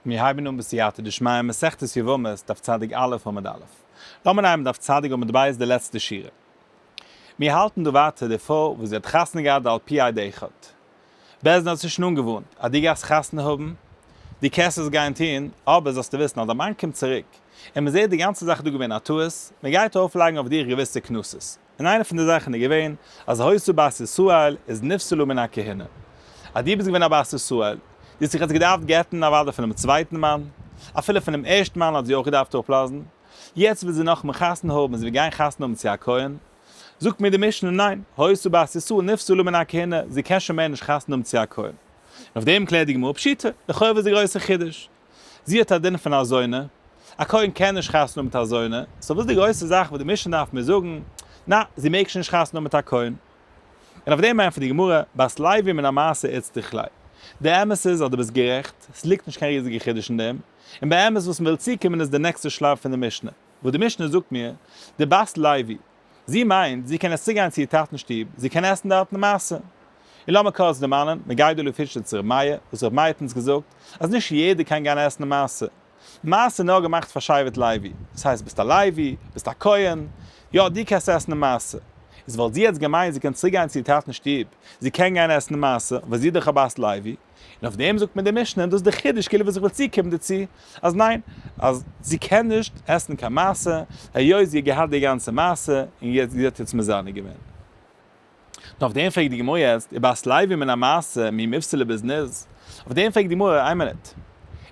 מיר הייבן אן בסייעתא דשמיא מסכת יבמות דף צ א עמוד א'. לאמיר נייען דף צ א עמוד ב' די לעצטע שורה. מיר האלטן דא ווייטער די פרוי וואס זי האט חתונה געהאט ועל פי א ד אחד. בעז ד האט זי שוין אנגעווארנט אז דו גייסט חתונה האבן, דו קענסט עס גיין טון, אבער זאלסטו וויסן אז דיין מאן קומט צוריק, און מען זעט די גאנצע זאך איז דא געווען א טעות, מען גייט ארויפלייגן אויף דיר געוויסע קנסות. און איינע פון די זאכן איז געווען אז היות בת ישראל איז נפסלה מן הכהונה, אז דו ביסט געווען א בת ישראל, דו האסט זיך יעצט געדארפט גט'ן אוודאי פונעם צווייטן מאן, אפילו פונעם ערשטן מאן האט זי אויך געדארפט אפלאזן, יעצט וויל זי נאכמער חתונה האבן און זי וועט גיין חתונה האבן צו א כהן, זאגט מיר די משנה ניין, היות בת ישראל נפסלה מן הכהונה, זי קען שוין מער נישט חתונה האבן צו א כהן. און אויף דעם קלערט די גמרא פשיטא, לכאו' איז די גרויסע חידוש, זי האט א דין פון אזוינע, א כהן קען נישט חתונה האבן מיט אזוינע, סאו וואס איז די גרויסע זאך וואס די משנה דארף מיר זאגן, נעה, זי מעג שוין נישט חתונה האבן מיט א כהן. און אויף דעם ענטפערט די גמרא, בת לוי מן המעשה עצתיך ליה. די אמת איז אז דו ביסט גערעכט, עס ליגט נישט קיין ריזיגע חידוש אין דעם, און באמת וואס מען וויל צוקומען איז די נעקסטע שלב פון די משנה, וואס די משנה זאגט מיר, די בת לוי, זי מיינט, זי קען עס צוגיין צו איר טאטן שטוב, זי קען עסן דארטן למעשה. און לאמיר קורץ דערמאנען, מגיידא לפירשא צו ר' מאיר, וואס ר' מאיר האט אונז געזאגט, אז נישט יעדער קען גיין עסן למעשה. למעשה איז נאר געמאכט פאר שבט לוי. דאס הייסט ביסט א לוי, ביסט א כהן, יא, דו קענסט עסן למעשה. איז וואלט זי יעצט געמיינט זי קען צוריקגיין צו איר טאטן שטוב, זי קען גיין עסן למעשה, ווייל זי איז דאך א בת לוי. און אויף דעם זאגט מיר די משנה און דאס איז די חידוש כאילו וואס איך וויל צוקומען דערצו אז ניין אז זי קען נישט עסן קיין מעשר היות זי האט געהאט די גאנצע מעשר און יעצט זי האט יעצט מזנה געווען און אויף דעם פרעגט די גמרא יעצט איז בת לוי מן המעשר מי מפסילה בזנות אויף דעם פרעגט די גמרא איין מינוט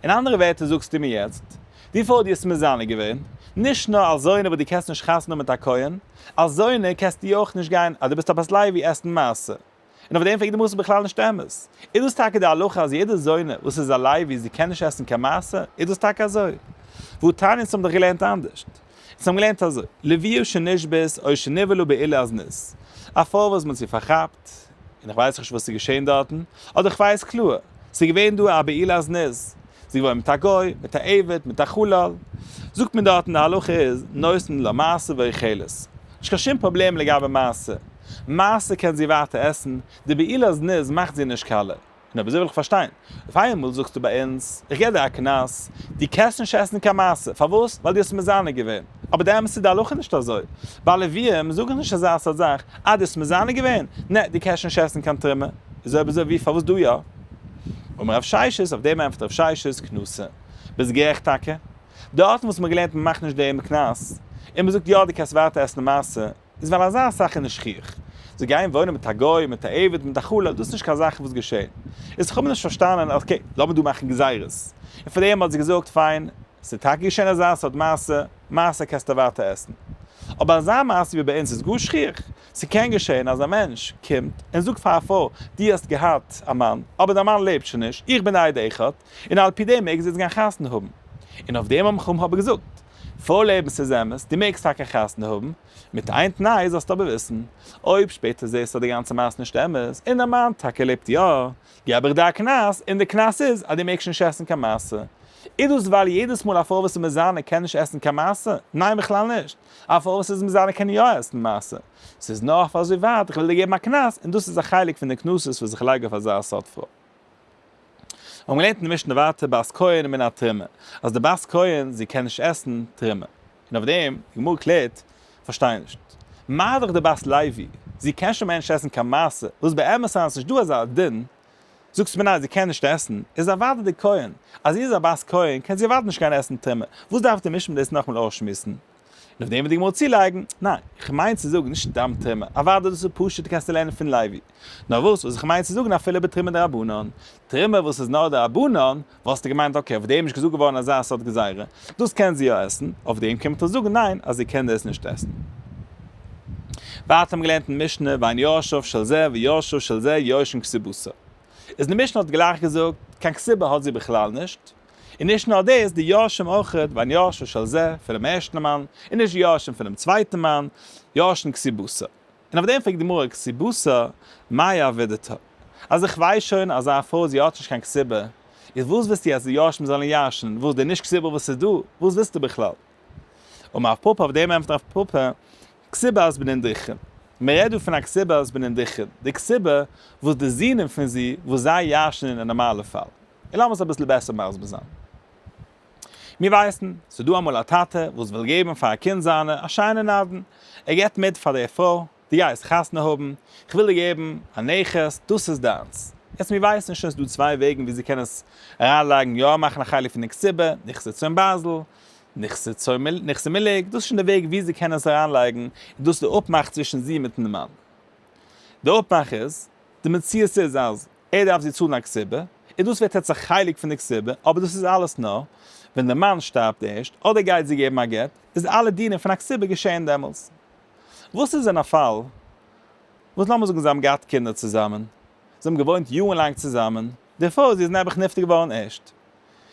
אין אנדערע ווערטער זאגסטו מיר יעצט וויפיל האט יעצט מזנה געווען נישט נאר אלס זונה וואס דו קענסט נישט חתונה מיט א כהן אלס זונה קענסטו אויך נישט גיין אז דו ביסט א בת לוי עסן מעשר. און אויף דעם פרעגט די גמרא ס'איז בכלל נישט אמת. איז דאס טאקע די הלכה אז יעדע זונה וואס איז א לוי זי קען נישט עסן קיין מעשר? איז דאס טאקע אזוי? וואו תענית האבן דאך געלערנט אנדערש. זיי האבן געלערנט אזוי, לוויו שנשבית או שנבהלו בעילה אז ניס. א פרוי וואס מ'האט זי פארכאפט, און איך ווייס נישט וואס איז געשען דארטן, אדער כ'ווייס קלאר, ס'איז געווען דא א בעילה אז ניס, זי וואוינט מיט א גוי, מיט א עבד, מיט א חלל. זאגט מען דארטן די הלכה איז נותן לה מעשר ואוכלת. נישט קיין שום פראבלעם לגבי מעשר. מעשר קען זי ווייטער עסן, די בעילה זנות מאכט זי נישט כלה. נו אבער זי וויל איך פארשטיין, אויף איינמאל זאגסטו ביי אונז, איך געב דיר א קנס, דו קענסט נישט עסן קיין מעשר, פארוואס? ווייל דו האסט מזנה געווען. אבער די אמת איז די הלכה איז נישט אזוי. ביי לווים זאגן נישט אזא סארט זאך, אה דו האסט מזנה געווען? נע, דו קענסט נישט עסן קיין תרומה. איז אויב אזוי ווי פארוואס דא יא? אמר רב ששת, אויף דעם ענטפערט רב ששת, קנסה. ביסט גערעכט טאקע. די ארטן וואס מען האט געלערנט מען מאכט נישט דעם קנס, און מען זאגט יא די קענסט ווייטער עסן למעשה, איז ווייל אזא זאך איז נישט שכיח. זיי גייען וואוינען מיט א גוי, מיט א עבד, מיט א כלה, דאס איז נישט קיין זאכן וואס געשעהן. איז איך האב נישט פארשטאנען, אקעי, לאמיר דא מאכן גזירות. און פאר דעם האט זי געזאגט, פיין, ס'איז טאקע געשעהן אזא סארט מעשה, מעשה קענסטו ווייטער עסן. אבער אזא מעשה ווי ביי אונז איז גאר שכיח. ס'קען געשען אז א מענטש קומט און זאגט פאר א פרוי, דו האסט געהאט א מאן, אבער דיין מאן לעבט שוין נישט, איך בין די עד אחד, און על פי דעם מעגסט דו יעצט גיין חתונה האבן. און אויף דעם האבן חכמים אבער געזאגט, פרוי לעבן ס'איז אמת, דו מעגסט טאקע חתונה האבן, מיט איין תנאי, זאלסטו אבער וויסן, אויב שפעטער זעסטו אז די גאנצע מעשה איז נישט אמת, און דיין מאן טאקע לעבט יא, געב איך דיר א קנס, און די קנס איז אז דו מעגסט נישט עסן קיין מצה. איז דאס ווייל יעדעס מאל א פרוי וואס איז מזנה קען נישט עסן קיין מצה? ניין בכלל נישט. אויף וואס איז מיט זיינע קעניאעסן מעשה? ס'איז נאר אויף אזוי ווייט, איך וועל דיר געבן א קנס, און דאס איז א חלק פון די קנסות וואס איך לייג אויף אזא סארט פרוי. מיר האבן געלערנט אין די משנה ווייטער בת כהן מן התרומה, אז די בת כהן זי קען נישט עסן תרומה, און אויף דעם, די גמרא קלערט, כ'פארשטיי נישט, מה דאך די בת לוי, זי קען שוין מער נישט עסן קיין מעשר, וואס באמת היינט איז נישטא אזא דין, זאגסט מיר ניין זי קען נישט עסן, איז אוודאי די כהן, אז זי איז א בת כהן קען זי אוודאי נישט גיין עסן טומאה, וואס דארף די משפט דאס נאכמאל אויסשמועסן? און אויף דעם וועט די גמרא צולייגן, ניין, איך מיין צו זאגן נישט סתם טומאה, אוודאי דאס איז פשוט קענסטו לערנען פון לוי, נאר וואס וואס איך מיין צו זאגן אפילו בתרומה דרבנן, תרומה וואס איז נאר דרבנן, וואלסטו געמיינט אקעי אויף דעם איז נישט געזאגט געווארן אזא סארט גזירה, דאס קען זי יא עסן, אויף דעם קען מען דאך זאגן ניין אז זי קען דאס נישט עסן. ווייטער האבן מיר געלערנט אין משנה ואין יורשיו של זה ויורשו של זה יורשין כסיבותא. איז די משנה האט גלייך געזאגט קיין כסיבה האט זי בכלל נישט, און נישט נאר דאס די יורשים אויך ואין יורשו של זה פונעם ערשטן מאן און נישט די יורשים פונעם צווייטן מאן יורשין כסיבותא. און אויף דעם פרעגט די גמרא כסיבותא מאי אבי דתא, אז איך ווייס שוין אז זיין פרוי זי האט נישט קיין כסיבה, איז וואס ווילסטו יעצט די יורשים זאלן ירש'ן וואס די נישט כסיבה וואס איז דא, וואס ווילסטו בכלל? אמר רב פפא אויף דעם ענטפערט רב פפא כסיבת בנין דכרין, מען רעדט דא פון א כסיבת בנין דכרין, די כסיבה וואס די זוהן פון זי וואס זיי ירש'ן אין א נארמאלע פאל, און לאמיר עס אביסל בעסער מסביר זיין. מיר ווייסן, ס'איז דא אמאל א טאטע וואס וויל געבן פאר א קינד זיינע א שיינע נדן, ער געבט מיט פאר די פרוי, דו גייסט חתונה האבן, כ'וויל דיר געבן א נכס, דאס איז דיינס. יעצט מיר ווייסן שוין ס'איז דא צוויי וועגן ווי זי קען עס אריינלייגן, יא מאכן א חלק פון די קציבה, נכסי צאן בייזל, נכסי צאן מיל, נכסי מילג, דאס איז שוין די וועג ווי זי קען עס אריינלייגן, און דאס איז די אפמאך צווישן זי מיטן מאן. די אפמאך איז, די מציאות איז אז ער דארף זי צאלן א קצובה, און דאס ווערט עטס א חלק פון די קצובה, אבער דאס איז אלעס נאר ווען די מאן שטארבט ערשט, אדער גייט זי געבן א גט, איז אלע דינים פון א קצובה געשעהן דעמאלס. וואס איז אין א פאל וואס לאמיר זאגן זיי האבן געהאט קינדער צוזאמען, זיי האבן געוואוינט יארן לאנג צוזאמען, דערפאר זי איז נעבעך נפטר געווארן ערשט,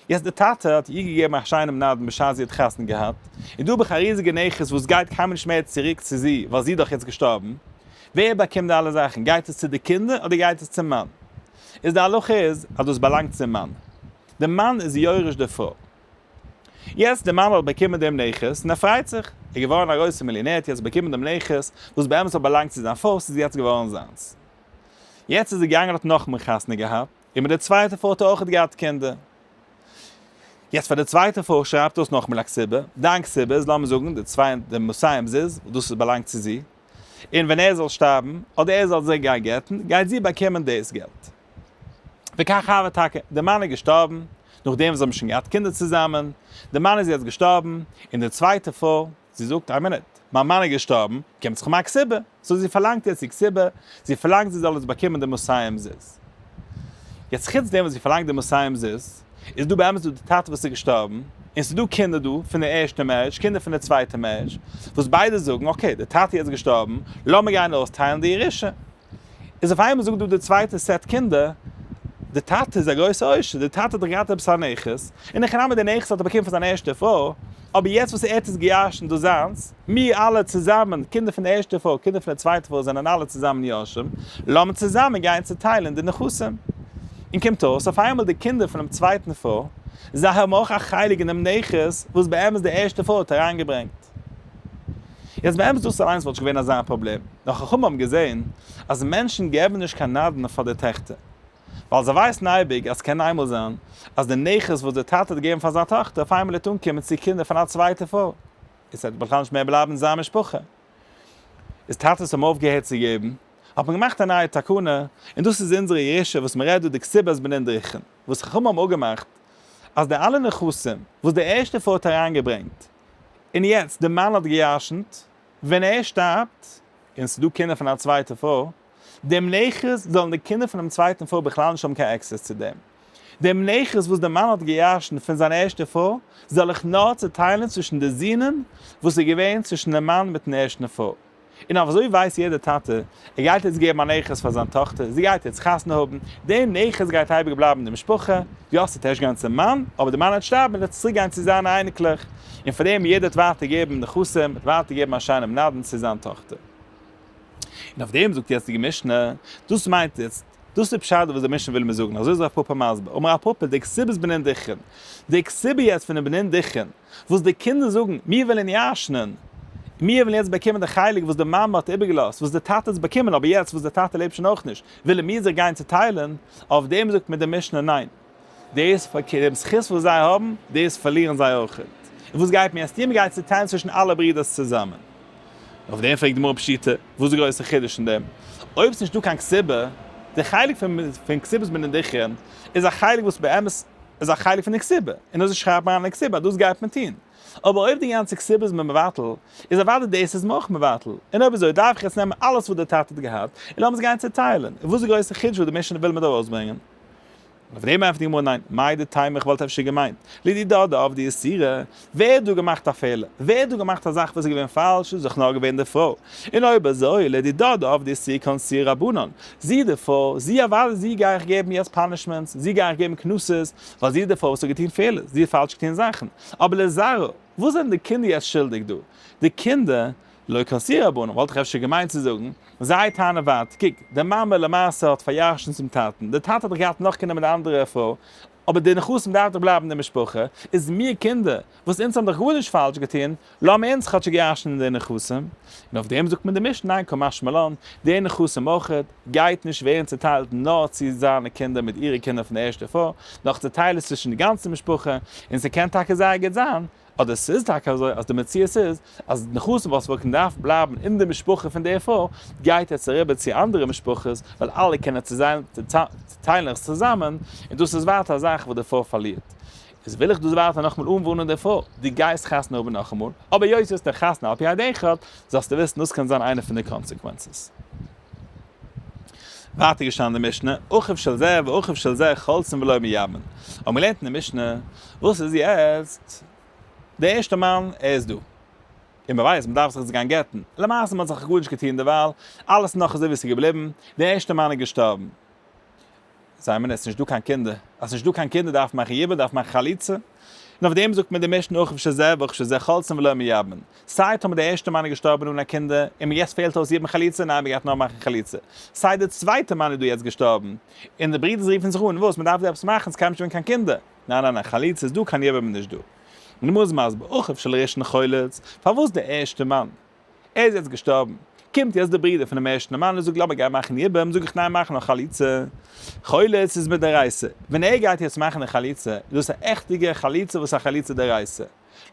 יעצט די טאטע האט איר געגעבן א שיינעם נדן בשעת זי האט חתונה געהאט, און דא האב איך א ריזיגע נכס וואס גייט קיינמאל נישט מער צוריק צו זי ווייל זי איז דאך יעצט געשטארבן, ווער באקומט די אלע זאכן? גייט עס צו די קינדער אדער גייט עס צום מאן? איז די הלכה איז אז דאס באלאנגט צום מאן, די מאן איז יורש די פרוי. יעצט די מאן האט באקומען דעם נכס און ער פרייט זיך, ער איז געווארן א גרויסער מיליאנער ער האט יעצט באקומען דעם נכס וואס באמת האט באלאנגט צו זיין פרוי, ס'איז יעצט געווארן זיינס. יעצט איז ער געגאנגען האט נאכמער חתונה געהאט, און מיט די צווייטע פרוי האט ער אויכעט געהאט קינדער. יעצט פאר די צווייטע פרוי שרייבט דאס נאך מילא כסדר, דיין כסדר איז לאמיר זאגן די צוויי די מסיים זיז דאס איז באלאנגט צו זי, און ווען ער זאל שטארבן אדער ער זאל זי גיין גט'ן גייט זי באקומען דאס געלט. וכך הווה טאקע, די מאן איז געשטארבן, נאכדעם וואס זיי האבן שוין געהאט קינדער צוזאמען, די מאן איז יעצט געשטארבן, און די צווייטע פרוי, זי זאגט, איין מינוט, מיין מאן איז געשטארבן, קומט זיך מיין קציבה, סאו זי פארלאנגט יעצט איר קציבה, זי פארלאנגט זי זאל יעצט באקומען די מסיים זיז. יעצט חוץ דעם וואס זי פארלאנגט די מסיים זיז, איז דא באמת דא די טאטע וואס איז געשטארבן, און ס'איז דא קינדער דא פון די ערשטע מערידזש, קינדער פון די צווייטע מערידזש, וואס ביידע זאגן, אקעי, די טאטע איז יעצט געשטארבן, לאמיר גיין אויסטיילן די ירושה. איז אויף איינמאל זאגט דא די צווייטע סעט קינדער, די טאטע איז א גרויסע עושר, די טאטע האט דאך געהאט עפעס א נכס, און הכי נמי די נכס האט ער באקומען פון זיין ערשטע פרוי, אבער יעצט וואס ער האט עס געיארשן דאס זיינס, מיר אלע צוזאמען, קינדער פון די ערשטע פרוי, קינדער פון די צווייטע פרוי זענען אלע צוזאמען יורשים, לאמיר צוזאמען גיין צוטיילען די נכסים. און קומט אויס אויף איינמאל די קינדער פון דעם צווייטן פרוי, זיי האבן אויך א חלק אין דעם נכס וואס באמת די ערשטע פרוי האט אריינגעברענגט. יעצט באמת דאס אליינס וואלט נישט געווען אזא פראבלעם, נאר חכמים האבן געזען אז מענטשן געבן נישט קיין נדן פאר די טעכטער, ווייל זיי ווייסן אייביג אז ס'קען איינמאל זיין אז די נכס וואס די טאטע האט געגעבן פאר זיין טאכטער אויף איינמאל וועט אנקומען צו קינדער פון א צווייטע פרוי, און ס'וועט בכלל נישט מער בלייבן אין זיין משפחה. איז טאטעס האבן אויפגעהערט צו געבן, האט מען געמאכט א נייע תקנה, און דאס איז אונזערע ירושה וואס מ'רעדט דא די כתובת בנין דרכין, וואס חכמים האבן אפגעמאכט אז די אלע נכסים וואס די ערשטע פרוי האט אריינגעברענגט, און יעצט די מאן האט געירשנט, ווען ער שטארבט, און ס'דא קינדער פון א צווייטע פרוי, דעם נכס זאלן די קינדער פונעם צווייטן פרוי בכלל נישט האבן קיין עקסעס צו דעם. דעם נכס וואס די מאן האט געירשנט פון זיין ערשטע פרוי, זאל איך נאר צוטיילן צווישן די זוהן וואס איז געווען צווישן דעם מאן מיטן ערשטן פרוי. און אויף אזוי ווייסט יעדער טאטע, ער גייט יעצט געבן א נכס פאר זיין טאכטער, זי גייט יעצט חתונה האבן, דער נכס גייט אייביג בלייבן אין די משפחה, יא ס'וועט ערשט גיין צום מאן, אבער די מאן וועט שטארבן און עס וועט צוריק גיין צו זיינע אייניקלעך, און פאר דעם יעדער וועט ווייטער געבן נכסים, וועט ווייטער געבן א שיינעם נדן צו זיין טאכטער. און אויף דעם זאגט די יעצטיגע משנה, דאס מיינט איצט, דאס איז פשט וואס דער משנה וויל מיר זאגן, אזוי איז רב פפא מסביר, אמר רב פפא, די כסובית בנין דיכין, די כסובה יעצט פונעם בנין דיכין, וואס די קינדער זאגן, מיר ווילן ישנ'ן, מיר ווילן יעצט באקומען די חלק וואס די מאמע האט איבערגעלאזט, וואס די טאטע האט עס באקומען, אבער יעצט וואס די טאטע לעבט שוין אויך נישט, ווילן מיר זיך גיין צעטיילן, אויף דעם זאגט מיר די משנה, ניין, דאס פארקערט, דעם זכות וואס זיי האבן, דאס פארלירן זיי אויך, און וואס גייט מיר עס טון, מיר גייען צעטיילן צווישן אלע ברודערס צוזאמען. אויף דעם פרעגט די גמרא פשיטא, וואס איז די גרויסע חידוש אין דעם, אויב ס'נישטא קיין כסיבה, די חלק פון כסיבת מנין דכרין, איז א חלק וואס באמת, איז א חלק פון די כסיבה, און אזוי שרייבט מרן אין די כסיבה אז דאס גייט מען טון. אבער אויב די גאנצע כסיבה איז מען מבטל, איז אוודאי דאס איז מען אויך מבטל. און אויב אזוי דארף איך יעצט נעמען אלעס וואס דער טאטע האט געהאט, און לאמיר עס גיין צעטיילען. און וואס איז די גרויסע חידוש וואס די משנה וויל מיר דא ארויסברענגען? אויף דעם ענטפערט די גמרא ניין, מאי דהתימה איך וואלט אפשר געמיינט, לידי דאדע אב די איסורא, ווער האט דא געמאכט א פעלער? ווער האט דא געמאכט א זאך וואס איז געווען פאלש? איז דאך נאר געווען די פרוי. און אויב אזוי, לדי דדה אב די סיר קאן סיר רבנן. זי איז די פרוי, זי אוודאי זי גיי איך געבן יעצט פאנישמענטס, זי גיי איך געבן קנסות, ווייל זי איז די פרוי וואס האט געטון פעלערס, זי האט פאלש געטון זאכן. אבער לזרא, וואס זענען די קינדער יעצט שולדיג דא? די קינדער, לא קאן סיר רבנן, וואלט איך אפשר געמיינט צו זאגן, זיי טענה'ן ווארט, קוק, די מאמע למעשה האט פאריארשענט צום טאטן, די טאטע האט דאך געהאט נאכגענומען די אנדערע פרוי, אבער די נכסים דארף דאך בלייבן די משפחה, איז מיר קינדער, וואס אונז האבן דאך גארנישט פאלש געטון, לאמיר אונז כאטשיג ירש'נען די נכסים, און אויף דעם זאגט מיר די משנה ניין כא משמע לן, די נכסים אויכעט, גייט נישט ווערן צוטיילט נאר צו זיינע קינדער מיט אירע קינדער פון די ערשטע פאר, נאך צוטיילען עס צווישן די גאנצע משפחה, און ס'קען טאקע זייער גוט זיין, אדער ס'איז טאקע אזוי אז די מציאות איז אז נכסים וואס וועלכן דארף בלייבן אין די משפחה פון די פרוי גייט יעצט אריבער צו אנדערע משפחות ווייל אלע קענען צוטיילן עס צוזאמען און דאס איז ווייטער א זאך וואס די פרוי פארלירט. איז וויל איך דאס ווייטער נאכאמאל אנווארנען די פרוי, דו גייסט חתונה האבן נאכאמאל, אבער היות דו האסט נישט חתונה על פי א דין אחד, זאלסטו וויסן דאס קען זיין איינע פון די קאנסעקווענצעס. ווייטער געשטאנען אין די משנה, אחיו של זה ואחיו של זה חולצין ולא מיאבן, האט מען געלערנט אין די משנה, וואס איז יעצט, די ערשטע מאן ער איז דא, און מען ווייסט מען דארף זיך יעצט גיין גט'ן, למעשה מען האט זיך גארנישט געטון דערווייל, אלעס נאך אזוי ווי עס איז געבליבן, די ערשטע מאן איז געשטארבן, זיי מיינען אז ס'איז נישט דא קיין קינדער, אז ס'איז נישט דא קיין קינדער דארף מען מאכן יבול, דארף מען מאכן חליצה, און אויף דעם זאגט מען די משנה אוכף שזע ואוכף שזע חלצין ולא מיבמין, סיי טאמער די ערשטע מאן איז געשטארבען אן א קינדער, און מען יעצט פעלט אויס יבום חליצה, ניין מען גייט נאר מאכן חליצה, סיי די צווייטע מאן איז דא יעצט געשטארבען, און די ברידערס רופן זיך אן, וואס מען דארף דא עפעס מאכן, ס'קען נישט ווערן קיין קינדער, ניין ניין ניין חליצה איז דא קיין יבום איז נישט דא, און די גמרא איז מסביר אוכף של ראשון חלץ, פארוואס די ערשטע מאן? ער איז יעצט געשטארבן. קומט יעצט די ברודער פונעם ערשטן מאן און זאגט לאמיר גייען מאכן יבום, זאג איך ניין מאך נאר חליצה. חולת איז מדאורייתא. ווען ער גייט יעצט מאכן די חליצה, איז דאס א עכטיגע חליצה וואס איז א חליצה דאורייתא.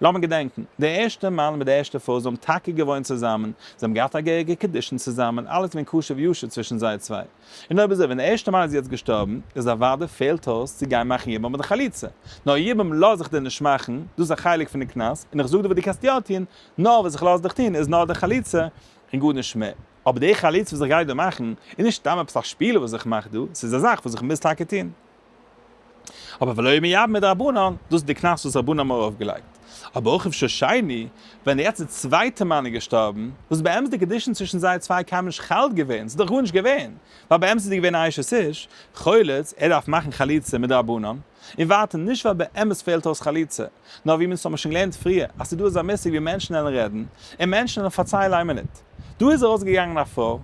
לאמיר געדענקן, דער ערשטער מאן מיט די ערשטע פרוי זענען טאקע געוואוינט צוזאמען, זיי האבן געהאט א געהעריגע קידושין צוזאמען, אלעס געווען כשר ויושר צווישן זיי צוויי. און אויב אזוי, ווען דער ערשטער מאן איז יעצט געשטארבן, איז אוודאי פעלט אויס צו גיין מאכן יבום מיט די חליצה. נאר יבום לאז איך דיר נישט מאכן, דאס איז א חלק פון די קנס, און איך זאג דיר וואס דו קענסט יא טון, נאר וואס איך לאז דיך טון איז נאר די חליצה און גארנישט מער. אבער די חליצה וואס איך גיי דא מאכן איז נישט סתם עפעס א שפיל וואס איך מאך דא, ס'איז א זאך וואס איך מוז טאקע טון. אבער ולא מיד מדרבנן, דאס איז די קנס וואס רבנו האבן ארויפגעלייגט. אבער אויך רבשע שני, ווען דער יעצט צווייטער מאן איז געשטארבן, וואס באמת די קדושין צווישן זיי צוויי קיינמאל נישט חל געווען, ס'איז דאך גארנישט געווען, ווייל באמת איז ער געווען א אשת איש, חולץ, ער דארף מאכן חליצה מדרבנן. און ווייטער, נישט ווייל באמת פעלט אויס חליצה, נאר ווי מיר האבן שוין געלערנט פריער, אז ס'איז דא אזא מושג ווי מענטשן וועלן רעדן, און מענטשן וועלן פארציילן איין מינוט. דא איז ארויס געגאנגען א פרוי,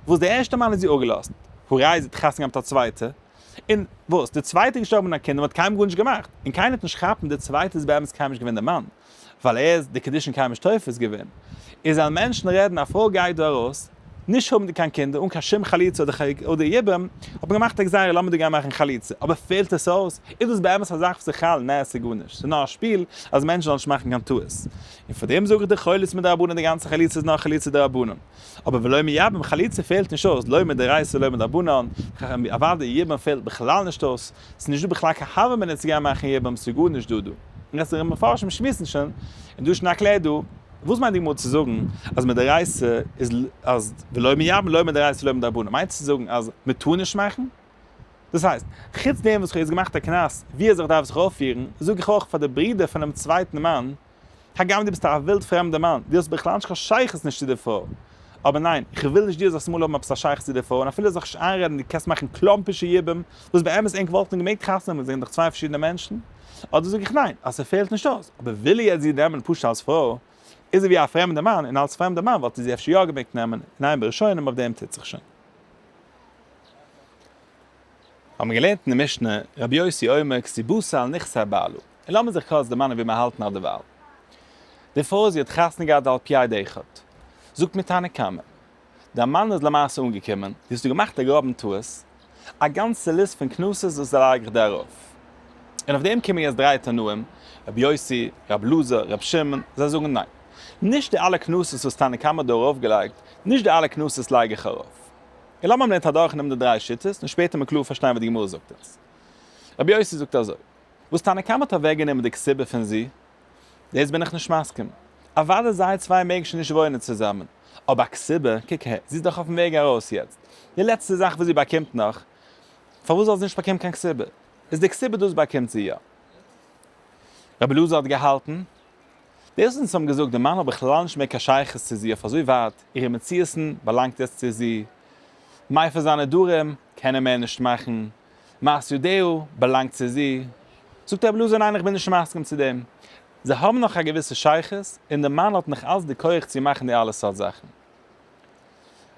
וואס די ערשטע מאן האט זי אפגעלאזט, הראי' זי האט חתונה געהאט מיט א צווייטע, און וואס, די צווייטע איז געשטארבן אן א קינד און מ'האט קיינמאל גארנישט געמאכט, און קיינער האט נישט כאפן די צווייטע איז באמת קיינמאל נישט געווען די מאן. ווייל ער איז די קדישין קיימא שטויפערס געווען, און זיין מענטשן רעדן א פרוי גייט דא ארויס, נישט האבנדיג קיין קינדער, אן קיין שום חליצה אדער חג אדער יבום, האט מען געמאכט א גזירה לאמיר דיר גיין מאכן חליצה, אבער פעלט עס אויס? איז דאס באמת א זאך וואס איך האלט? נעה ס'איז גארנישט, ס'איז נאר א שפיל אז מענטשן זאלן נישט מאכן קיין טעות, און פאר דעם זאג איך די חולית מדרבנן די גאנצע חליצה איז נאר חליצה דרבנן, אבער ולא מיבם חליצה פעלט נישט אויס, לא מדאורייתא ולא מדרבנן, אוודאי יבום פעלט בכלל נישט אויס, ס'איז נישט דא בכלל קיין הוה אמינא צו גיין מאכן יבמות ס'איז גארנישט דא דא. און עס איז מפרשים שמועסן שוין און דא שנאק לעד דא. וואס מיינט די גמרא צו זאגן אז מדאורייתא איז אז ולא מיבם לא מדאורייתא ולא מדרבנן מיינט עס צו זאגן אז מען טאר נישט מאכן? דאס הייסט, חוץ דעם וואס כ'האב יעצט געמאכט א קנס ווי אזוי כ'דארף זיך אויפפירן, זאג איך אויך פאר די ברודער פונעם צווייטן מאן, הגם דו ביסט א ווילד פרעמדער מאן, דו האסט בכלל נישט קיין שייכות נישט צו דער פרוי. אבער ניין, איך וויל נישט דו זאלסט אמאל האבן עפעס א שייכות צו דער פרוי, און אפילו זיך נישט איינרעדן דו קענסט מאכן קלאמפישע יבום, וואס באמת ענק וואלטן געמעגט חתונה נעמען, זענען דאך צוויי פארשידענע מענטשן. אדער זאג איך ניין, אז ס'פעלט נישט אויס, אבער וויל איך יעצט זי נעמען פשוט אלס פרוי, איז זי ווי א פרעמדער מאן, און אלס פרעמדער מאן וואלט איך זי אפשר יא געמעגט נעמען, ניין בראשונים אויף דעם טוט זיך שוין. האבן געלערנט אין די משנה, רבי יוסי אומר כסי בוסר על נכסי בעלו, און לאמיר זיך קורץ דערמאנען ווי מיר האלטן אט דערווייל. די פרוי זי האט חתונה געהאט על פי עד אחד, זאגט מיר תנא קמא, דער מאן איז למעשה אנגעקומען, זי האסט דא געמאכט א גראבן טעות, א גאנצע ליסט פון קנסות וואס איז לייג איך דא ארויף. און אויף דעם קומען יעצט דריי תנאים, רבי יוסי, רבי אלעזר, רבי שמעון, זיי זאגן ניין, נישט די אלע קנסות וואס תנא קמא האט דא ארויפגעלייגט, נישט די אלע קנסות לייג איך ארויף. און לאמיר אמער נענטער אדורך נעמען די דריי שיטות און שפעטער מען קלאר פארשטיין וואס די גמרא זאגט אונז. רבי יוסי זאגט אזוי, וואס תנא קמא האט אוועק גענומען די כסובה פון ז', דאס בין איך נישט מסכים. אוודאי זיי צוויי מעגן שוין נישט וואוינען צוזאמען, אבער א כסובה, קוק אהער, זי איז דאך אויפן וועג ארויס יעצט, די לעצטע זאך וואס זי באקומט נאך, פארוואס זאל זי נישט באקומען קיין כסובה? איז די כסובה דאס באקומט זי יא. רבי אלעזר האט געהאלטן. פערזאנס האבן געזאגט די מאן האט בכלל נישט מער קיין שייכות צו זי אויף אזוי ווייט, אירע מציאות'ן באלאנגט יעצט צו זי, מי פון זיינע נדרים קען ער מער נישט מאכן, מעש ידיו באלאנגט צו זי, זאגט רבי אלעזר ניין איך בין נישט מסכים צו דעם, זיי האבן נאך א געוויסע שייכות, און די מאן האט נאך אלץ די כח צו מאכן די אלע סארט זאכן.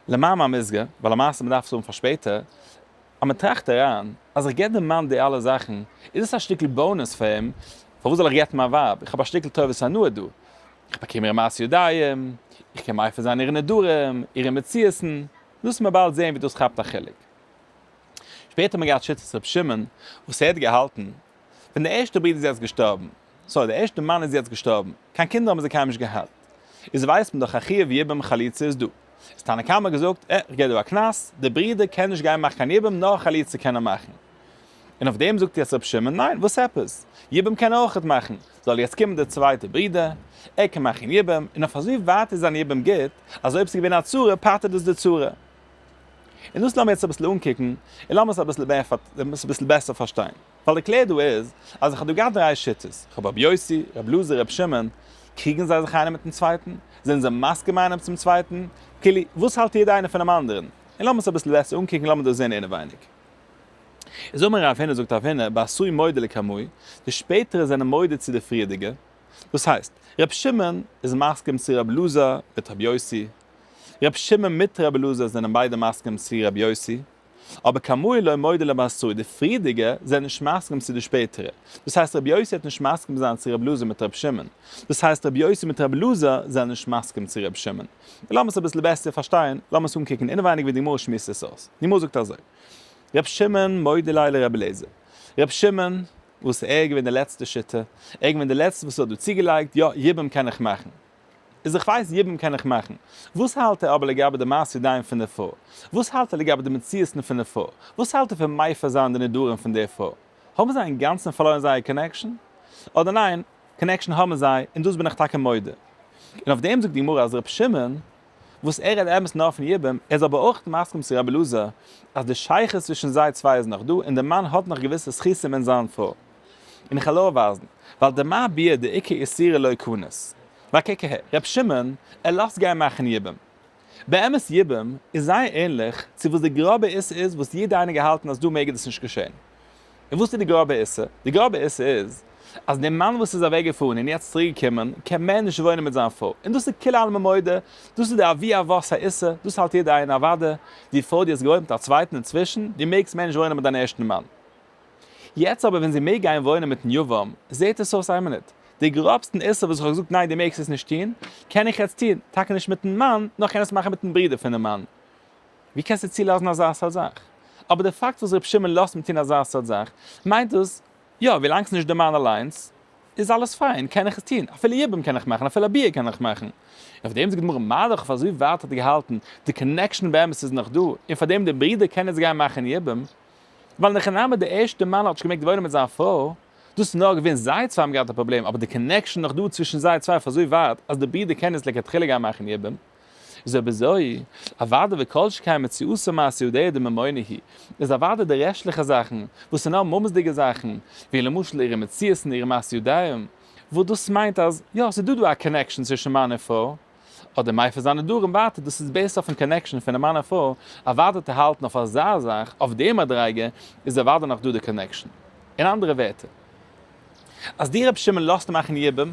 למאמר מוסגר, ווייל למעשה מ'דארף עס האבן פאר שפעטער, אז מען טראכט אריין, אז איך געב דעם מאן די אלע זאכן, איז עס א שטיקל באונעס פאר אים, פארוואס זאל איך גט'ן מיין ווייב, איך האב א שטיקל טובת הנאה דא, איך באקום אירע מעשי ידיים, איך קען מייפער זיין אירע נדרים, אירע מציאות'ן, דאס וועט מען באלד זען ווי דאס כאפט א חלק. שפעטער האט מען געהאט שיטת ר' שמעון, וואס ער האט געהאלטן ווען דער ערשטער ברודער איז יעצט געשטארבן, סארי דער ערשטער מאן איז יעצט געשטארבן, קיין קינדער האבן זיי קיינמאל נישט געהאט, איז ווייסט מען דאך א חיוב יבום חליצה איז דא, איז תנא קמא געזאגט, אה, כ'גיב דיר א קנס, דער ברודער קען נישט גיין מאכן קיין יבום, נאר חליצה קען ער מאכן. און אויף דעם זאגט יעצט רבי שמעון, ניין, וואס עפעס, יבום קען ער אויכעט מאכן, זאל יעצט קומען דער צווייטער ברודער, ער קען מאכן יבום, און אויף אזוי ווייט איז זיין יבום גוט, אז אויב ס'איז געווען א צרה, פטר'ט דאס די צרה. און דאס לאמיר יעצט אביסל אנקוקן, און לאמיר עס אביסל מער אביסל אביסל בעסער פארשטיין. ווייל די קלער דא איז, אז איך האב דא געהאט דריי שיטות, איך האב רבי יוסי, רבי אלעזר, רבי שמעון, קריגן זיי זיך איינער מיטן צווייטן? זענען זיי מסכים איינער צום צווייטן? כאילו, וואס האלט יעדער איינער פונעם אנדערן? און לאמיר עס אביסל בעסער אנקוקן, לאמיר דאס זען אינעווייניג. איז אמר רב הנה זאגט רב הנה, בעשוי מודה לקמוי, די שפעטערע זענען מודה צו די פריערדיגע. דאס הייסט, רבי שמעון איז מסכים צו רבי אלעזר מיט רבי יוסי, ר' שמעון מיט ר' אלעזר זענען ביידע מסכים צו ר' יוסי, אבער כאמור לא מודה למעשו, די פריערדיגע זענען נישט מסכים צו די שפעטערע, דאס הייסט ר' יוסי העט נישט מסכים זיין צו ר' אלעזר מיט ר' שמעון, דאס הייסט ר' יוסי מיט ר' אלעזר זענען נישט מסכים צו ר' שמעון, און לאמיר עס אביסל בעסער פארשטיין, לאמיר עס אנקוקן אינעווייניג ווי די גמרא שמועסט עס אויס, די גמרא זאגט אזוי, ר' שמעון מודה ליה לר' אלעזר, ר' שמעון וואס ער איז געווען די לעצטע שוטה, ער איז געווען די לעצטע וואס האט דא צוגעלייגט, יא יבום קען איך מאכן. איז איך ווייס יבם קען איך מאכן. וואס האלט ער אבער לגבי די מעשי ידיים פון די פרוי? וואס האלט ער לגבי די מציאות'ן פון די פרוי? וואס האלט ער פון מייפער זיין די נדרים פון די פרוי? האבן זיי אינגאנצן פארלוירן זייער קאנעקשאן? אדער ניין, קאנעקשאן האבן זיי, און דאס בין איך טאקע מודה. און אויף דעם זאגט די גמרא אז ר' שמעון וואס ער רעדט אמת נאר פון יבום, ער איז אבער אויך מסכים צו רבי אלעזר אז די שייכות צווישן זיי צוויי איז נאך דא און דער מאן האט נאך געוויסע זכותים אין זיין פרוי, און איך העל אויף ווייזן ווייל די מה ביאה די עיקר איסורי לוי כנות. בה כ כ רבי שמעון ער לאזט גיין מאכן יבום. באמת יבום איז זייער ענליך צו וואס די גראבע איסור איז וואס יעדער איינער געהאלטן אז דא מעג דאס נישט געשען. און וואס איז די גראבע עיסה? די גראבע עיסה איז אז דער מאן וואס איז אוועק געפארן און יעצט צוריק געקומען קען מער נישט וואוינען מיט זיין פרוי, און דאס איז כולי עלמא מודה, דאס איז די אבי אבות העיסה, דאס האלט יעדער איין, אוואדע די פרוי די האסט געוואוינט מיט א צווייטן אינצווישן, די מעגסט מער נישט וואוינען מיט דיין ערשטן מאן. יעצט אבער ווען זי מעג גיין וואוינען מיטן יבם, זעט עס אויס איין מינוט, די גראבסטן עיסה וואס איך האב געזאגט ניין די מעגסט עס נישט טוהן, קען איך יעצט טוהן, טאקע נישט מיטן מאן, נאר איך קען עס מאכן מיטן ברודער פונעם מאן. ווי קענסטו צולאזן אזא סארט זאך? אבער די פאקט וואס רבי שמעון לאזט אים טון אזא סארט זאך, מיינט דאס, יא, ווילאנג ס'נישט די מאן אליינס, איז אלעס פיין, קען איך עס טון, אפילו יבום קען איך מאכן, אפילו א ביאה קען איך מאכן. און פארדעם זאגט די גמרא, מה דכ אויף אזוי ווייט האט ער געהאלטן, די קאנעקשאן באמת איז נאך דא, און פארדעם די ברודער קען יעצט גיין מאכן יבום, ווייל נאך אין אמת די ערשטע מאן האט נישט געמעגט וואוינען מיט זיין פרוי, דאס איז נאר געווען זיי צוויי האבן געהאט א פראבלעם, אבער די קאנעקשאן נאך דא צווישן זיי צוויי אויף אזוי ווייט, אז די ברודער קען יעצט לכתחילה גיין מאכן יבום. איז אויב אזוי, אוודאי וכל שכן מציאות המעשה הוא דעה דממונה היא, איז אוודאי די רעשטליכע זאכן, וואס איז נאר מאמעס'דיגע זאכן, ווי למשל אירע מציאות און אירע מעשי ידיים, וואס דאס מיינט אז, יא, ס'איז דא דא א קאנעקשאן צווישן מאן און פרוי, אדער מעיפר זיין נדרים ווייטער, דאס איז בעיסד אויפן קאנעקשאן פונעם מאן און פרוי, אוודאי צו האלטן אויף אזא זאך, אויף די מדריגה, איז אוודאי נאך דא די קאנעקשאן. אין אנדערע ווערטער. אז די רבי שמעון לאזט מאכן יבום,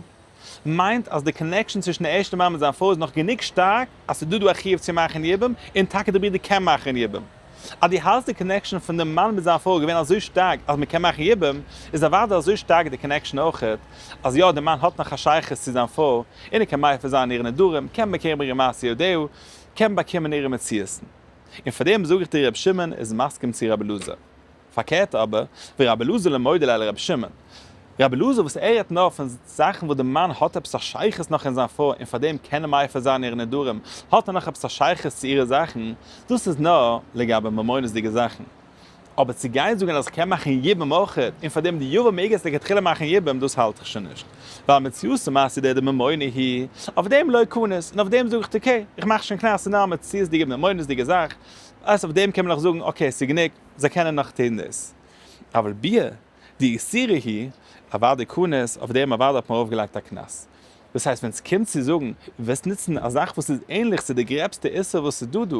מיינט אז די קאנעקשאן צווישן די ערשטע מאן מיט זיין פרוי איז נאך גענוג שטארק אז ס'איז דא דא א חיוב צו מאכן יבום, און טאקע די ברודער קען מאכן יבום. אז דו האלטסט די קאנעקשאן פון די מאן מיט זיין פרוי איז געווען אזוי שטארק אז מ'קען מאכן יבום, איז אוודאי אזוי שטארק די קאנעקשאן אויכעט, אז יא די מאן האט נאך א שייכות צו זיין פרוי, און ער קען מייפע זיין אירע נדרים, קען באקערן ברענגען מעשי ידיו, קען באקומען אירע מציאות'ן. און פארדעם זאג איך דיר רבי שמעון איז מסכים צו רבי אלעזר. פארקערט אבער, ווי רבי אלעזר לע מוידעלע אל רבי שמעון. רבי אלעזר וואס ערהערט נאר פון זאכן וואס די מאן האט עפעס א שייכות נאך אין זיין פרוי און פארדעם קען ער מייפער זיין אירע נדרים, האט ער נאך עפעס א שייכות צו אירע זאכן, דאס איז נאר לגבי ממונות'דיגע זאכן. אבער צו גיין זאגן אז כ'קען מאכן יבום אויך און פארדעם די יבום מעג עס לכתחילה מאכן יבום דאס האלט איך שוין נישט. ווייל מציאות ומעשה דער די ממונה היא, אויף דעם לא קנס, און אויף דעם זאג איך טאקע, כ'מאך שוין קנס ס'נאר א מציאות'דיגע ממונות'דיגע זאך, אז אויף דעם קען מען נאך זאגן אקעי ס'גענוג, זיי קענען נאך טון דאס. אבל ב ה די איסור היא אוודאי קנס, אויף דעם אוודאי האט מען ארויף געלייגט א קנס. דאס הייסט ווען ס'קומט צו זאגן, וועסט נוצן א זאך וואס איז ענליך צו די גרעבסטע איסור וואס איז דא דא,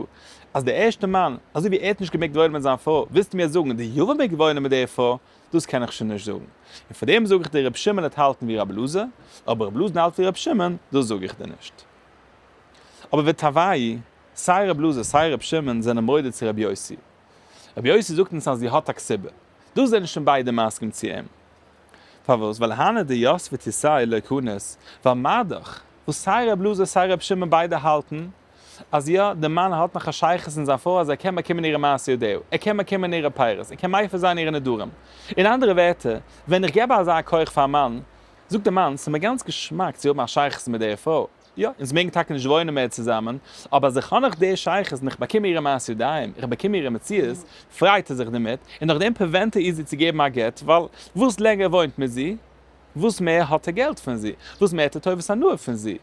אז די ערשטע מאן, אזוי ווי ער האט נישט געמעגט וואוינען מיט זיין פרוי, ווילסטו מיר זאגן די יב ם מעג וואוינען מיט דער פרוי, דאס קען איך שוין נישט זאגן. און פאר דעם זאג איך דיר רבי שמעון וועט האלטן ווי רבי אלעזר, אבער רבי אלעזר האלט ווי רבי שמעון, דאס זאג איך דיר נישט. אבער ותאווי', סיי רבי אלעזר סיי רבי שמעון זענען מודה צו רבי יוסי. רבי יוסי זאגט אונז אז זי האט א קציבה. דא זענען שוין ביידע מסכים צו אים. פארוואס? ווייל הנה די יאס ותישאי לא קנית, ווייל מאדאך, וואס סיי רב אלעזר סיי רבי שמעון ביידע האלטן אז יא, די מאן האט נאך א שייכות אין זיין פרוי אז ער קען באקומען אירע מעשי ידיו, ער קען באקומען אירע פירות, ער קען מייפר זיין אירע נדרים. אין אנדערע ווערטער, ווען איך געב אזא כח פארן מאן, זאגט די מאן, ס'מיר גאנץ געשמאק צו האבן א שייכות מיט דער פרוי. יא, אונז מעגן טאקע נישט וואוינען מער צוזאמען, אבער אז איך האב נאך די שייכות און איך באקום אירע מעשי ידיים, איך באקום אירע מציאות, פריידט ער זיך דערמיט, און נאכדעם פריווענט ער איר זי צו געבן א גט, ווייל וואס לענגער ער וואוינט מיט זי, וואס מער האט ער געלט פון זי, וואס מער האט ער טובת הנאה פון זי.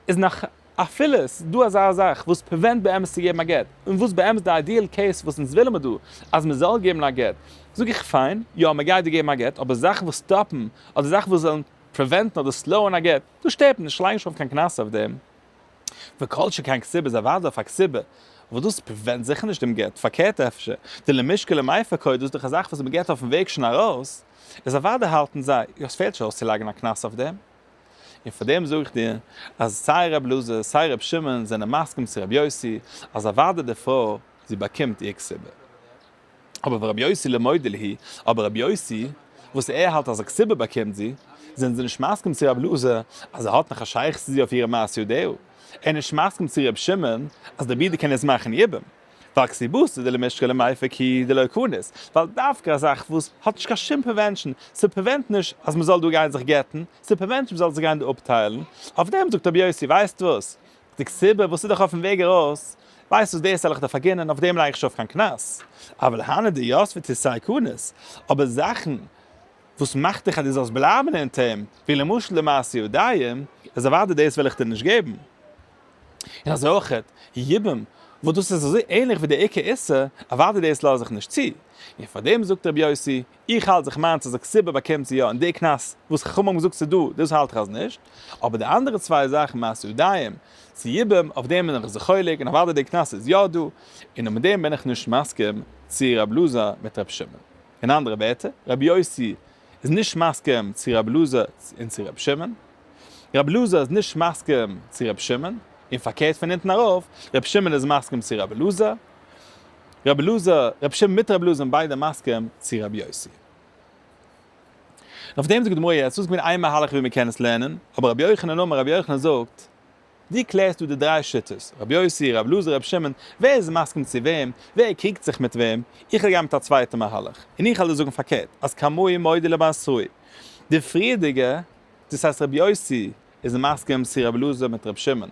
איז נאך אפילו ס'דא אזא זאך וואס פריווענט באמת צו געבן א גט, און וואס באמת די איידיעל קעיס וואס אונז ווילן מיר דא, אז מען זאל געבן א גט, זאג איך פיין, יא, מען גייט דיר געבן א גט, אבער זאכן וואס סטאפן, אדער זאכן וואס וועלן. פריווענטן אדער סלאוען א גט, דאס שטערט נישט, לייג נישט אויף קיין קנס אויף דעם. וכל שכן כסיבה איז אוודאי אויף א כסיבה, וואס דאס פריווענט זיכער נישט דעם גט, פארקערט אפשר, די למשקה למייפה קוי דאס איז דאך א זאך וואס מען געט אויפן וועג שוין ארויס, איז אוודאי האלטן זיי, יא עס פעלט נישט אויס צו לייגן א קנס אויף דעם. און פאר דעם זאג איך דיר, אז סיי ר' אלעזר סיי ר' שמעון זענען מסכים צו ר' יוסי, אז אוודאי די פרוי זי באקומט איר כסיבה. אבער ווען רבי יוסי למודה ליהי, אבער רבי יוסי, וואס ער האלט אז א כסובה באקומט זי, זענען זיי נישט מסכים צו רבי אלעזר אז ער האט נאך א שייכות צו זי אויף אירע מעשי ידיו, ער איז נישט מסכים צו רבי שמעון אז דער ברודער קען עס מאכן יבם, ווייל כסובתא דלמשכי למייפק היא דלא כונת, ווייל דווקא א זאך וואס האט נישט קיין שום פרעווענטשן, ס'פרעווענט נישט אז מ'זאל דא גיין זיך גט'ן, ס'פרעווענט נישט מ'זאל זיך גיין דא אפטיילן, אויף דעם זאגט רבי יוסי, ווייסט וואס, די קציבה וואס איז דאך אויפן וועג ארויס, ווייסט וואס דאס העל איך דיר פארגינען אויף דעם לייג איך שוין אויף קיין קנס, אבל הנא דיוסף איז צו סייקנות, אבער זאכן וואס מאכט דיך אז דו זאלסט בלייבן אין טעם, ווי למשל די מעשה יודעים, איז אוודאי דאס וועל איך דיר נישט געבן, און אזוי אויך יבום וואס דאס איז אזוי ענליך ווי די עיקר איסור, אוודאי דאס לאז איך נישט צו, און פאר דעם זאגט רבי יוסי, איך האלט זיך מיינס אז א קציבה באקומט זי יא און די קנס וואס חכמים האבן געזאגט ס'דא דאס האלט איך אז נישט, אבער די אנדערע צוויי זאכן מעשי ידיים צו יבם אויף דעם בין איך זיך חולק און אוודאי די קנס איז יא דא און און מיט דעם בין איך נישט מסכים צו רבי אלעזר מיט רבי שמעון. אין אנדערע ווערטער רבי יוסי איז נישט מסכים צו רבי אלעזר און צו רבי שמעון, רבי אלעזר איז נישט מסכים צו רבי שמעון און פארקערט פון אונטן ארויף רבי שמעון איז מסכים צו רבי אלעזר רבי אלעזר, רבי שמעון מיט רבי אלעזר זענען ביידע מסכים צו רבי יוסי. און אויף דעם זאגט די גמרא, ס'איז געווען איין מהלך ווי מ'קען עס לערנען, אבער רבי יוחנן אמר, רבי יוחנן זאגט, דו קלערסט דא די דריי שיטות, רבי יוסי, רבי אלעזר, רבי שמעון, ווער איז מסכים צו וועם, ווער קריגט זיך מיט וועם, איך וועל גיין מיט א צווייטע מהלך, און איך וועל דיר זאגן פארקערט, אז כמהי מודי למעשי, די פריערדיגע, דאס הייסט רבי יוסי, איז מסכים צו רבי אלעזר מיט רבי שמעון.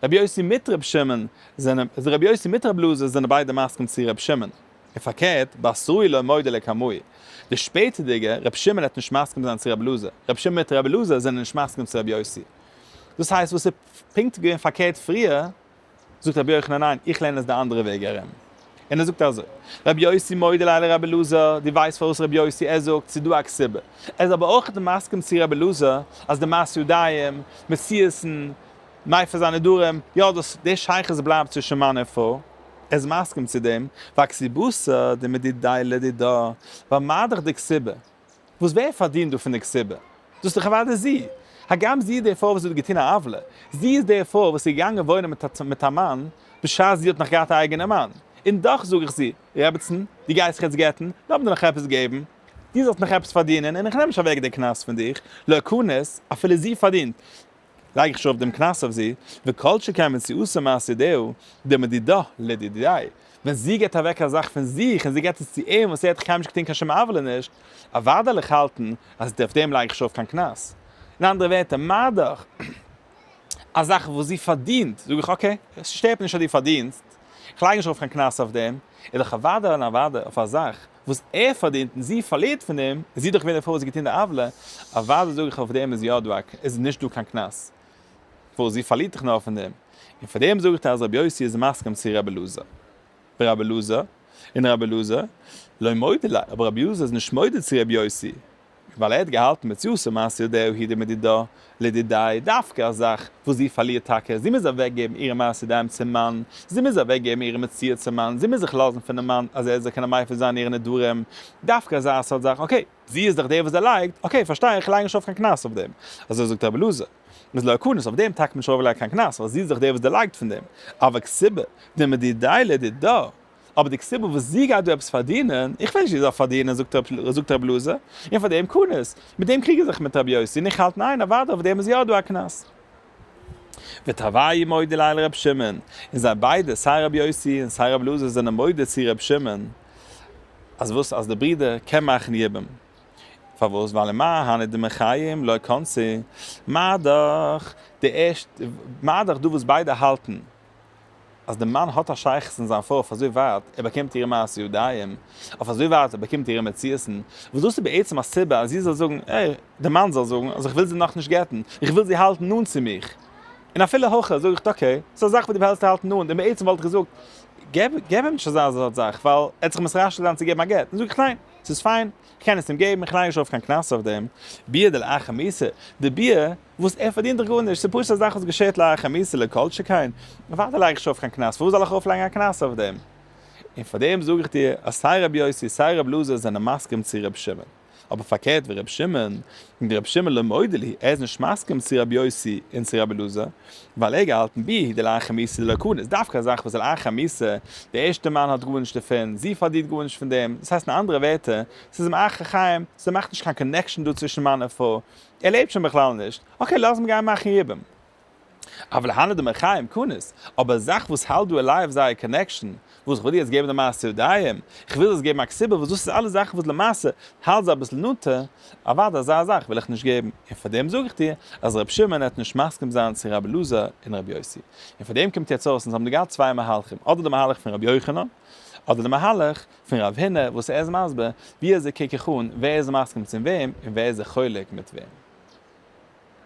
רבי יוסי מיט רבי שמעון זענען, און רבי יוסי מיט רבי אלעזר זענען ביידע מסכים צו רבי שמעון. און פארקערט, באסרי לא מודה לי כמוהי. די שפעטערדיגע, רבי שמעון העט נישט מסכים זיין צו רבי אלעזר. רבי שמעון מיט רבי אלעזר זענען נישט מסכים צו רבי יוסי. דאס הייסט וואס איז פונקט געווען פארקערט פריער, זאגט רבי יוחנן ניין איך לערן עס די אנדערע וועג ארום, און ער זאגט אזוי, רבי יוסי מודה ליי לרבי אלעזר, דו ווייסט פארוואס רבי יוסי ער זאגט ס'איז דא א קסיבה, ער איז אבער אויכעט מסכים צו רבי אלעזר אז די מעשי ידיים, מציאות'ן, מעיפה זיין נדרים, יא דאס די שייכות בלייבט צווישן מאן און פרוי, ער איז מסכים צו דעם, והקסיבותא דמדידאי לדידא, ווייל מה דאך די קסיבה, וואס ווער פארדינט דא פון די קציבה? דאס איז דאך אוודאי זי! הגם זי איז די פרוי וואס האט געטון א עוולה. זי איז די פרוי וואס איז געגאנגען וואוינען מיט א מאן בשעת זי האט נאך געהאט א אייגענע מאן. און דאך זאג איך זי, רעבעצן, דו גייסט זיך יעצט גט'ן, לאמיר דיר נאך עפעס געבן. דו זאלסט נאך עפעס פארדינען און איך נעם נישט אוועק די קנס פון דיך. לעקנות, אפילו זי פארדינט. לייג איך שוין אויף דעם קנס אויף זי, וכל שכן ווען זי עושה מעשה דעהו דמדידא לדידיי, ווען זי גיבט אוועק א זאך פון זיך און זי גיבט עס צו אים וואס ער האט קיינמאל נישט געטון קיין שום עוולה נישט, אוודאי וועל איך האלטן אז אויף דעם לייג איך שוין אויף קיין קנס. אין אנדערע ווערטער, מה דאך א זאך וואס זי פארדינט, זאג איך אקעי, עס שטערט מיר נישט אז דו פארדינסט, איך לייג נישט ארויף קיין קנס אויף דעם, איז דאך אוודאי און אוודאי אויף א זאך וואס ער פארדינט און זי פארלירט פון דעם, איז זי דאך געווען די פרוי וואס האט געטון די עוולה, אוודאי זאג איך אויף דעם איז יא דא א, איז נישט דא קיין קנס, וואס זי פארלירט דאך נאר פון דעם, און פאר דעם זאג איך דיר אז רבי יוסי איז מסכים צו רבי אלעזר, ורבי אלעזר, און רבי אלעזר, לא מודה לה, אבער רבי אלעזר איז נישט מודה צו רבי יוסי, ווייל ער האט געהאלטן מציאות ומעשה ידעו הידע מדידא לידידאי דווקא א זאך וואס זי פארלירט טאקע, זי מוז אוועקגעבן אירע מעשה ידיים צום מאן, זי מוז אוועקגעבן אירע מציאות צום מאן, זי מוז זיך לאזן פונעם מאן אז ער זאל קענען מייפל זיין אירע נדרים, דווקא אזא סארט זאך, אקעי. זי איז דאך דער וואס דערלייגט, אקעי פארשטיי איך, לייג נישט ארויף קיין קנס אויף דעם, אזוי זאגט רבי אלעזר, איז לא קנס, אויף דעם טאקט מען נישט ארויף לייגט קיין קנס, ווייל זי איז דאך דער וואס דערלייגט פון דעם, אבק סיבה דמדידאי לידידא, אבער די סיבה וואס זי גייט דא עפעס פארדינען, איך ווייס נישט ווי זי זאל פארדינען, זאגט ר' אלעזר, און פאר דעם קנא, מיט דעם קריג איך זיך מיט רבי יוסי, און איך האלט ניין, אוודאי אויף דעם איז יא דא א קנס. ותבעי מודי ליה לר' שמעון, און זיי ביידע, סיי רבי יוסי און סיי ר' אלעזר זענען מודה צו ר' שמעון, אז וואס, אז דער ברודער קען מאכן יבום. פארוואס, ווייל אין מה הני דמי חיים לא קנסי', מה דאך, די ערשטע, מה דאך דא וואס ביידע האלטן, אז דער מאן האט א שייכות אין זיין פרוי אויף אזוי ווייט ער באקומט אירע מעשי ידיים, אויף אזוי ווייט ער באקומט אירע מציאות'ן, וואס דאס איז בעצם א סיבה אז זי זאל זאגן, ער, דער מאן זאל זאגן, אז איך וויל זי נאך נישט גט'ן, איך וויל זי האלטן נאנט צו מיך. און אפילו הכא זאג איך אקעי, ס'איז א זאך וואס דו ווילסט האלטן נאנט, און בעצם וואלט איך געזאגט, געב, געב אים נישט אזא זארט זאך, ווייל ער האט זיך מסרשל געווען צו געבן א גט, זאג איך ניין, ס'איז פיין, איך קען עס אים געבן, איך לייג נישט ארויף קיין קנס אויף דעם. ביאה דלאחר מעשה, די ביאה וואס ער פארדינט דאך גארנישט, ס'איז פשוט א זאך וואס געשעהט לאחר מעשה, לא כל שכן אוודאי לייג איך שוין אויף קיין קנס, פארוואס זאל איך ארויפלייגן א קנס אויף דעם? און פאר דעם זאג איך דיר אז סיי ר' יוסי סיי ר' אלעזר זענען מסכים צו ר' שמעון, אבער פארקערט ווי ר' שמעון, און ר' שמעון לא מודה לי, ער איז נישט מסכים צו ר' יוסי און צו ר' אלעזר, ווייל ער האט געהאלטן ב ה די לאחר מעשה די לקונה איז דווקא א זאך וואס די לאחר מעשה, די ערשטע מאן האט גארנישט דערפון, זי פארדינט גארנישט פון דעם, דאס הייסט אין אנדערע ווערטער, ס'איז אים אחר החיים, ס'מאכט נישט קיין קאנעקשאן דא צווישן מאן און פרוי, ער לעבט שוין בכלל נישט, אקעי לאז אים גיין מאכן יבום. אבל הנה די מחיים קנות, אבער א זאך וואס האלט דא עליי אויף זייער קאנעקשאן, וואס כ'וויל דיר יעצט געבן די מעשה ידיים, כ'וויל דאס געבן א סיבה וואס דאס איז אלעס זאכן וואס למעשה האלט זיי אביסל נאנטע, אוודאי אזא זאך וויל איך נישט געבן, און פאר דעם זאג איך דיר אז ר' שמעון העט נישט מסכים זיין צו רבי אלעזר און רבי יוסי, און פאר דעם קומט יעצט אויס אונז האבן דא געהאט צוויי מהלכים אדער די מהלך פון רבי יוחנן אדער די מהלך פון רב הונא וואס ער איז מסביר ווי אזוי קוק איך אן ווער איז מסכים צום וועם און ווער איז זיך חולק מיט וועם.